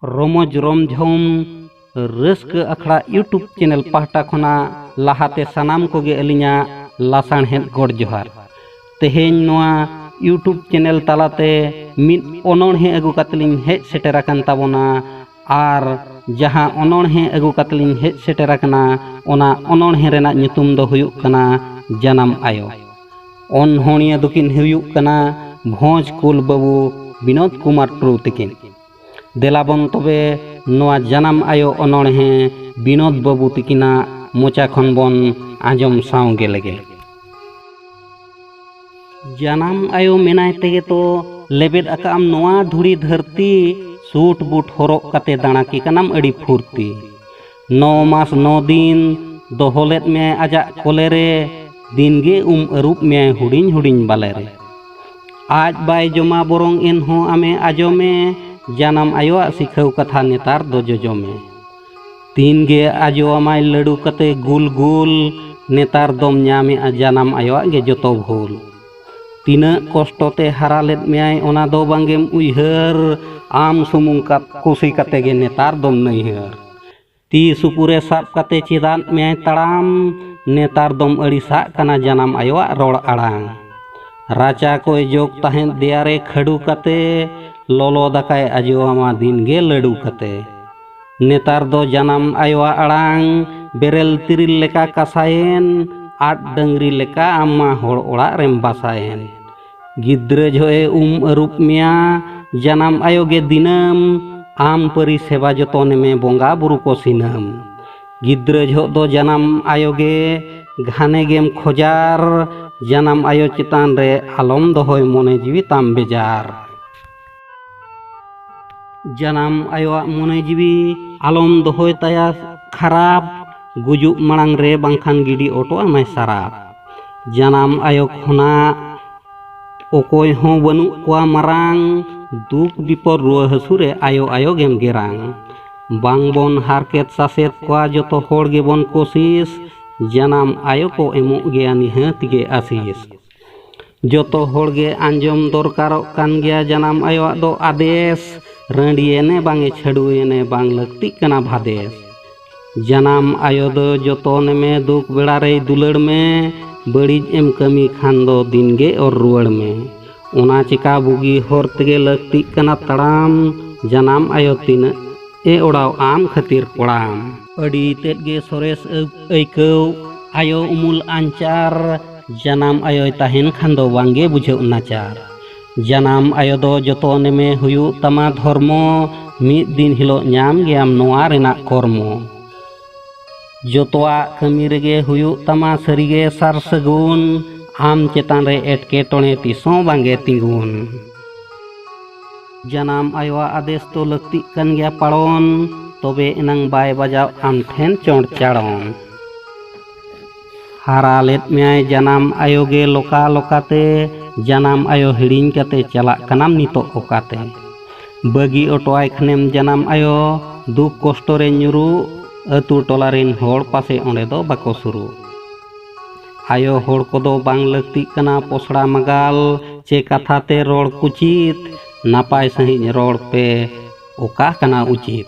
ᱨᱚᱢᱚᱡᱽ ᱨᱚᱢᱡᱷᱚᱢ ᱨᱟᱹᱥᱠᱟᱹ ᱟᱠᱷᱲᱟ ᱤᱭᱩᱴᱩᱵᱽ ᱪᱮᱱᱮᱞ ᱯᱟᱦᱴᱟ ᱠᱷᱚᱱᱟᱜ ᱞᱟᱦᱟᱛᱮ ᱥᱟᱱᱟᱢ ᱠᱚᱜᱮ ᱟᱹᱞᱤᱧᱟᱜ ᱞᱟᱥᱟᱬᱦᱮᱫ ᱜᱚᱰ ᱡᱚᱦᱟᱨ ᱛᱮᱦᱮᱧ ᱱᱚᱣᱟ ᱤᱭᱩᱴᱩᱵᱽ ᱪᱮᱱᱮᱞ ᱛᱟᱞᱟᱛᱮ ᱢᱤᱫ ᱚᱱᱚᱬᱦᱮ ᱟᱹᱜᱩ ᱠᱟᱛᱮ ᱞᱤᱧ ᱦᱮᱡ ᱥᱮᱴᱮᱨ ᱟᱠᱟᱱ ᱛᱟᱵᱚᱱᱟ ᱟᱨ ᱡᱟᱦᱟᱸ ᱚᱱᱚᱬᱦᱮ ᱟᱹᱜᱩ ᱠᱟᱛᱮ ᱞᱤᱧ ᱦᱮᱡ ᱥᱮᱴᱮᱨ ᱟᱠᱟᱱᱟ ᱚᱱᱟ ᱚᱱᱚᱬᱦᱮ ᱨᱮᱱᱟᱜ ᱧᱩᱛᱩᱢ ᱫᱚ ᱦᱩᱭᱩᱜ ᱠᱟᱱᱟ ᱡᱟᱱᱟᱢ ᱟᱭᱳ ᱚᱱᱚᱬᱦᱤᱭᱟᱹ ᱫᱚᱠᱤᱱ ᱦᱩᱭᱩᱜ ᱠᱟᱱᱟ ᱵᱷᱚᱸᱡᱽ ᱠᱩᱞ ᱵᱟᱹᱵᱩ ᱵᱤᱱᱳᱫ ᱠᱩᱢᱟᱨ ᱴᱩᱰᱩ ᱛᱤᱠᱤᱱ ᱫᱮᱞᱟᱵᱚᱱ ᱛᱚᱵᱮ ᱱᱚᱣᱟ ᱡᱟᱱᱟᱢ ᱟᱭᱳ ᱚᱱᱚᱬᱦᱮ ᱵᱤᱱᱳᱫ ᱵᱟᱹᱵᱩ ᱛᱤᱠᱤᱱᱟᱜ ᱢᱚᱪᱟ ᱠᱷᱚᱱ ᱵᱚᱱ ᱟᱸᱡᱚᱢ ᱥᱟᱶ ᱜᱮ ᱞᱮᱜᱮ ᱡᱟᱱᱟᱢ ᱟᱭᱳ ᱢᱮᱱᱟᱭ ᱛᱮᱜᱮ ᱛᱚ ᱞᱮᱵᱮᱫ ᱟᱠᱟᱫ ᱟᱢ ᱱᱚᱣᱟ ᱫᱷᱩᱲᱤ ᱫᱷᱟᱹᱨᱛᱤ ᱥᱩᱴ ᱵᱩᱴ ᱦᱚᱨᱚᱜ ᱠᱟᱛᱮ ᱫᱟᱬᱟ ᱠᱮ ᱠᱟᱱᱟᱢ ᱟᱹᱰᱤ ᱯᱷᱩᱨᱛᱤ ᱱᱚ ᱢᱟᱥ ᱱᱚ ᱫᱤᱱ ᱫᱚᱦᱚ ᱞᱮᱫ ᱢᱮᱭᱟᱭ ᱟᱡᱟᱜ ᱠᱚᱞᱮ ᱨᱮ ᱫᱤᱱ ᱜᱮ ᱩᱢ ᱟᱹᱨᱩᱵ ᱢᱮᱭᱟᱭ ᱦᱩᱰᱤᱧ ᱦᱩᱰᱤᱧ ᱵᱟᱞᱮ ᱨᱮ ᱟᱡ ᱵᱟᱭ ᱡᱚᱢᱟ ᱵᱚᱨᱚᱝ ᱮᱱᱦᱚᱸ ᱟᱢᱮ ᱟᱡᱚᱢᱮ ᱡᱟᱱᱟᱢ ᱟᱭᱳᱣᱟᱜ ᱥᱤᱠᱷᱟᱹᱣ ᱠᱟᱛᱷᱟ ᱱᱮᱛᱟᱨ ᱫᱚ ᱡᱚᱡᱚᱢᱮ ᱛᱤᱱ ᱜᱮ ᱟᱡᱚ ᱟᱢᱟᱭ ᱞᱟᱹᱰᱩ ᱠᱟᱛᱮ ᱜᱩᱞ ᱜᱩᱞ ᱱᱮᱛᱟᱨ ᱫᱚᱢ ᱧᱟᱢᱮᱜᱼᱟ ᱡᱟᱱᱟᱢ ᱟᱭᱳᱣᱟᱜ ᱜᱮ ᱡᱚᱛᱚ ᱵᱷᱩᱞ ᱛᱤᱱᱟᱹᱜ ᱠᱚᱥᱴᱚ ᱛᱮ ᱦᱟᱨᱟ ᱞᱮᱫ ᱢᱮᱭᱟᱭ ᱚᱱᱟ ᱫᱚ ᱵᱟᱝᱜᱮᱢ ᱩᱭᱦᱟᱹᱨ ᱟᱢ ᱥᱩᱢᱩᱝ ᱠᱟᱛ ᱠᱩᱥᱤ ᱠᱟᱛᱮ ᱜᱮ ᱱᱮᱛᱟᱨ ᱫᱚᱢ ᱱᱟᱹᱭᱦᱟᱹᱨ ᱛᱤ ᱥᱩᱯᱩᱨᱮ ᱥᱟᱵ ᱠᱟᱛᱮ ᱪᱮᱫᱟᱜ ᱢᱮᱭᱟᱭ ᱛᱟᱲᱟᱢ ᱱᱮᱛᱟᱨ ᱫᱚᱢ ᱟᱹᱲᱤᱥᱟᱜ ᱠᱟᱱᱟ ᱡᱟᱱᱟᱢ ᱟᱭᱳᱣᱟᱜ ᱨᱚᱲ ᱟᱲᱟᱝ ᱨᱟᱪᱟ ᱠᱚᱭ ᱡᱚᱜᱽ ᱛᱟᱦᱮᱸᱫ ᱫᱮᱭᱟᱨᱮ ᱠᱷᱟᱹᱰᱩ ᱠᱟᱛᱮ ᱞᱚᱞᱚ ᱫᱟᱠᱟᱭ ᱟᱡᱚ ᱟᱢᱟ ᱫᱤᱱ ᱜᱮ ᱞᱟᱹᱰᱩ ᱠᱟᱛᱮ ᱱᱮᱛᱟᱨ ᱫᱚ ᱡᱟᱱᱟᱢ ᱟᱭᱳᱣᱟᱜ ᱟᱲᱟᱝ ᱵᱮᱨᱮᱞ ᱛᱤᱨᱤᱞ ᱞᱮᱠᱟ ᱠᱟᱥᱟᱭᱮᱱ ᱟᱫ ᱰᱟᱹᱝᱨᱤ ᱞᱮᱠᱟ ᱟᱢ ᱢᱟ ᱦᱚᱲ ᱚᱲᱟᱜ ᱨᱮᱢ ᱵᱟᱥᱟᱭᱮᱱ ᱜᱤᱫᱽᱨᱟᱹ ᱡᱚᱦᱚᱜᱼᱮ ᱩᱢ ᱟᱹᱨᱩᱵ ᱢᱮᱭᱟ ᱡᱟᱱᱟᱢ ᱟᱭᱳ ᱜᱮ ᱫᱤᱱᱟᱹᱢ ᱟᱢ ᱯᱟᱹᱨᱤ ᱥᱮᱵᱟ ᱡᱚᱛᱚᱱᱮ ᱢᱮ ᱵᱚᱸᱜᱟ ᱵᱩᱨᱩ ᱠᱚ ᱥᱤᱱᱟᱹᱢ ᱜᱤᱫᱽᱨᱟᱹ ᱡᱚᱦᱚᱜ ᱫᱚ ᱡᱟᱱᱟᱢ ᱟᱭᱳ ᱜᱮ ᱜᱷᱟᱱᱮ ᱜᱮᱢ ᱠᱷᱚᱡᱟᱨ ᱡᱟᱱᱟᱢ ᱟᱭᱳ ᱪᱮᱛᱟᱱ ᱨᱮ ᱟᱞᱚᱢ ᱫᱚᱦᱚᱭ ᱢᱚᱱᱮ ᱡᱤᱣᱤ ᱛᱟᱢ ᱵᱮᱡᱟᱨ ᱡᱟᱱᱟᱢ ᱟᱭᱳᱣᱟᱜ ᱢᱚᱱᱮ ᱡᱤᱣᱤ ᱟᱞᱚᱢ ᱫᱚᱦᱚᱭ ᱛᱟᱭᱟ ᱠᱷᱟᱨᱟᱯ ᱜᱩᱡᱩᱜ ᱢᱟᱲᱟᱝ ᱨᱮ ᱵᱟᱝᱠᱷᱟᱱ ᱜᱤᱰᱤ ᱚᱴᱚ ᱟᱢᱟᱭ ᱥᱟᱨᱟᱯ ᱡᱟᱱᱟᱢ ᱟᱭᱳ ᱠᱷᱚᱱᱟᱜ ᱚᱠᱚᱭ ᱦᱚᱸ ᱵᱟᱹᱱᱩᱜ ᱠᱚᱣᱟ ᱢᱟᱨᱟᱝ ᱫᱩᱠ ᱵᱤᱯᱚᱫ ᱨᱩᱣᱟᱹ ᱦᱟᱹᱥᱩ ᱨᱮ ᱟᱭᱳ ᱟᱭᱳ ᱜᱮᱢ ᱜᱮᱨᱟᱝ ᱵᱟᱝ ᱵᱚᱱ ᱦᱟᱨᱠᱮᱛ ᱥᱟᱥᱮᱛ ᱠᱚᱣᱟ ᱡᱚᱛᱚ ᱦᱚᱲ ᱜᱮᱵᱚᱱ ᱠᱳᱥᱤᱥ ᱡᱟᱱᱟᱢ ᱟᱭᱳ ᱠᱚ ᱮᱢᱚᱜ ᱜᱮᱭᱟ ᱱᱤᱦᱟᱹᱛ ᱜᱮ ᱟᱥᱤᱥ ᱡᱚᱛᱚ ᱦᱚᱲ ᱜᱮ ᱟᱸᱡᱚᱢ ᱫᱚᱨᱠᱟᱨᱚᱜ ᱠᱟᱱ ᱜᱮᱭᱟ ᱡᱟᱱᱟᱢ ᱟᱭᱳᱣᱟᱜ ᱫᱚ ᱟᱫᱮᱥ ᱨᱟᱺᱰᱤᱭᱮᱱᱮ ᱵᱟᱝᱮ ᱪᱷᱟᱹᱰᱩᱭᱮᱱᱮ ᱵᱟᱝ ᱞᱟᱹᱠᱛᱤᱜ ᱠᱟᱱᱟ ᱵᱷᱟᱫᱮᱥ ᱡᱟᱱᱟᱢ ᱟᱭᱳ ᱫᱚ ᱡᱚᱛᱚᱱᱮ ᱢᱮ ᱫᱩᱠ ᱵᱮᱲᱟ ᱨᱮᱭ ᱫᱩᱞᱟᱹᱲ ᱢᱮ ᱵᱟᱹᱲᱤᱡ ᱮᱢ ᱠᱟᱹᱢᱤ ᱠᱷᱟᱱ ᱫᱚ ᱫᱤᱱ ᱜᱮ ᱚᱨ ᱨᱩᱣᱟᱹᱲ ᱢᱮ ᱚᱱᱟ ᱪᱮᱠᱟ ᱵᱩᱜᱤ ᱦᱚᱨ ᱛᱮᱜᱮ ᱞᱟᱹᱠᱛᱤᱜ ᱠᱟᱱᱟ ᱛᱟᱲᱟᱢ ᱡᱟᱱᱟᱢ ᱟᱭᱳ ᱛᱤᱱᱟᱹᱜ ᱮ ᱚᱲᱟᱣ ᱟᱢ ᱠᱷᱟᱹᱛᱤᱨ ᱠᱚᱲᱟᱢ ᱟᱹᱰᱤ ᱛᱮᱫ ᱜᱮ ᱥᱚᱨᱮᱥ ᱟᱹᱭᱠᱟᱹᱣ ᱟᱭᱳ ᱩᱢᱩᱞ ᱟᱧᱪᱟᱨ ᱡᱟᱱᱟᱢ ᱟᱭᱳᱭ ᱛᱟᱦᱮᱱ ᱠᱷᱟᱱ ᱫᱚ ᱵᱟᱝᱜᱮ ᱵᱩᱡᱷᱟᱹᱜ ᱱᱟᱪᱟᱨ ᱡᱟᱱᱟᱢ ᱟᱭᱳ ᱫᱚ ᱡᱚᱛᱚ ᱱᱮᱢᱮ ᱦᱩᱭᱩᱜ ᱛᱟᱢᱟ ᱫᱷᱚᱨᱢᱚ ᱢᱤᱫ ᱫᱤᱱ ᱦᱤᱞᱳᱜ ᱧᱟᱢ ᱜᱮᱭᱟᱢ ᱱᱚᱣᱟ ᱨᱮᱱᱟᱜ ᱠᱚᱨᱢᱚ ᱡᱚᱛᱚᱣᱟᱜ ᱠᱟᱹᱢᱤ ᱨᱮᱜᱮ ᱦᱩᱭᱩᱜ ᱛᱟᱢᱟ ᱥᱟᱹᱨᱤᱜᱮ ᱥᱟᱨ ᱥᱟᱹᱜᱩᱱ ᱟᱢ ᱪᱮᱛᱟᱱ ᱨᱮ ᱮᱴᱠᱮᱴᱚᱬᱮ ᱛᱤᱥᱦᱚᱸ ᱵᱟᱝᱜᱮ ᱛᱤᱸᱜᱩᱱ ᱡᱟᱱᱟᱢ ᱟᱭᱳᱣᱟᱜ ᱟᱫᱮᱥ ᱫᱚ ᱞᱟᱹᱠᱛᱤᱜ ᱠᱟᱱ ᱜᱮᱭᱟ ᱯᱟᱲᱚᱱ ᱛᱚᱵᱮ ᱮᱱᱟᱝ ᱵᱟᱭ ᱵᱟᱡᱟᱣ ᱟᱢ ᱴᱷᱮᱱ ᱪᱚᱸᱰ ᱪᱟᱲᱚᱱ ᱦᱟᱨᱟ ᱞᱮᱫ ᱢᱮᱭᱟᱭ ᱡᱟᱱᱟᱢ ᱟᱭᱳ ᱜᱮ ᱞᱚᱠᱟ ᱞᱚᱠᱟᱛᱮ ᱡᱟᱱᱟᱢ ᱟᱭᱳ ᱦᱤᱲᱤᱧ ᱠᱟᱛᱮ ᱪᱟᱞᱟᱜ ᱠᱟᱱᱟᱢ ᱱᱤᱛᱚᱜ ᱚᱠᱟᱛᱮ ᱵᱟᱹᱜᱤ ᱚᱴᱚᱣᱟᱭ ᱠᱷᱟᱱᱮᱢ ᱡᱟᱱᱟᱢ ᱟᱭᱳ ᱫᱩᱠ ᱠᱚᱥᱴᱚ ᱨᱮ ᱧᱩᱨᱩᱜ ᱟᱹᱛᱩ ᱴᱚᱞᱟ ᱨᱮᱱ ᱦᱚᱲ ᱯᱟᱥᱮ ᱚᱸᱰᱮ ᱫᱚ ᱵᱟᱠᱚ ᱥᱩᱨᱩᱜ ᱟᱭᱳ ᱦᱚᱲ ᱠᱚᱫᱚ ᱵᱟᱝ ᱞᱟᱹᱠᱛᱤᱜ ᱠᱟᱱᱟ ᱯᱚᱥᱲᱟ ᱢᱟᱜᱟᱞ ᱪᱮ ᱠᱟᱛᱷᱟ ᱛᱮ ᱨᱚᱲ ᱠᱩᱪᱤᱛ ᱱᱟᱯᱟᱭ ᱥᱟᱺᱦᱤᱡ ᱨᱚᱲ ᱯᱮ ᱚᱠᱟ ᱠᱟᱱᱟ ᱩᱪᱤᱛ